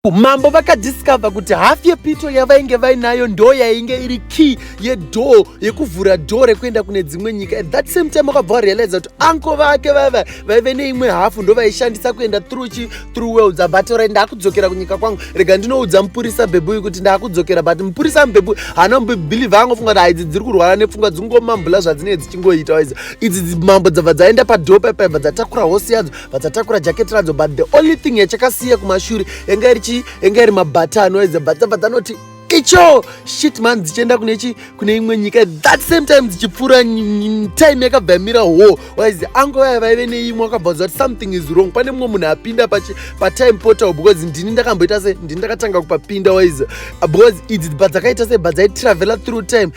Mambo vakadiscover kuti half yepito yavainge vainayo ndo yainge iri key yedoor yekuvhura door rekuenda kune dzimwe nyika at that same time vakabva varealiza kuti anko vake vava vaive neimwe hafu ndo vaishandisa kuenda through chi through worlds but ora ndakudzokera kunyika kwangu rega ndinoudza mupurisa mbebuyu kuti ndakudzokera but mupurisa mbebuyu haana mubhilivha angofunga kuti haidzi dziri kurwara nepfungwa dzingomambula zvadzinenge dzichingoita waiza idzi mambo dzabva dzaenda padoor paipaibva dzatakura hosi yadzo vadzatakura jacket radzo but the only thing yachakasiya kumashure yanga iri chii yanga iri mabhata anoedza but dzabva dzanoti icho shit man dzichienda kune chi kune imwe nyika that same time dzichipfuura time yakabva yamira ho waizi ango vaya vaive neimwe wakabvaudza kuti something is wrong pane mumwe munhu apinda patime portal because ndini ndakamboita se ndini ndakatanga kupapinda waizi because idzi bva dzakaita se bva dzaitravela through time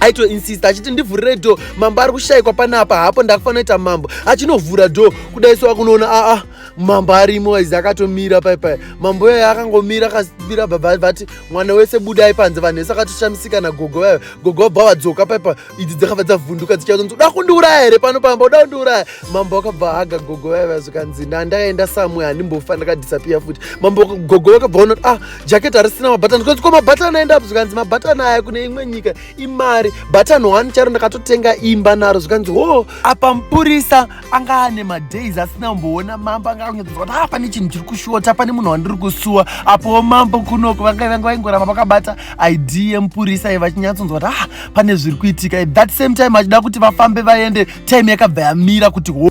aitoinsista achiti ndivhurire dho mambo ari kushayikwa panapa hapo ndakufanira kuita mambo achinovhura dho kudai so akunoona aa ah, mambo arimo izi akatomira paipai mambo iyoyo akangomira akabira baba vati mwana wese budai panze vanhu vese akatoshamisika nagogo vayo gogo vabva vadzoka paipa idzi dzakabva dzavhunduka dzichazonzi uda kundiuraya here pano pamba uda kundiuraya mambo akabva haga gogo vayo vazvikanzi ndandakaenda samwe handimbofa ndakadhisapiya futi mambo gogo vakabva ona ah jacket harisina mabhatani zvikanzi ko mabhatani aenda apo zvikanzi mabhatani aya kune imwe nyika imari bhatani one charo ndakatotenga imba naro zvikanzi ho apa mupurisa anga ane madays asina kumboona mambo anga akunyatsoziva kuti ah pane chinhu chiri kushota pane munhu wandiri kusuwa apowo mambo kunoko vanga vanga vaingoramba vakabata id yemupurisa iye vachinyatsonzwa kuti ah pane zviri kuitika at that same time achida kuti vafambe vaende time yakabva yamira kuti ho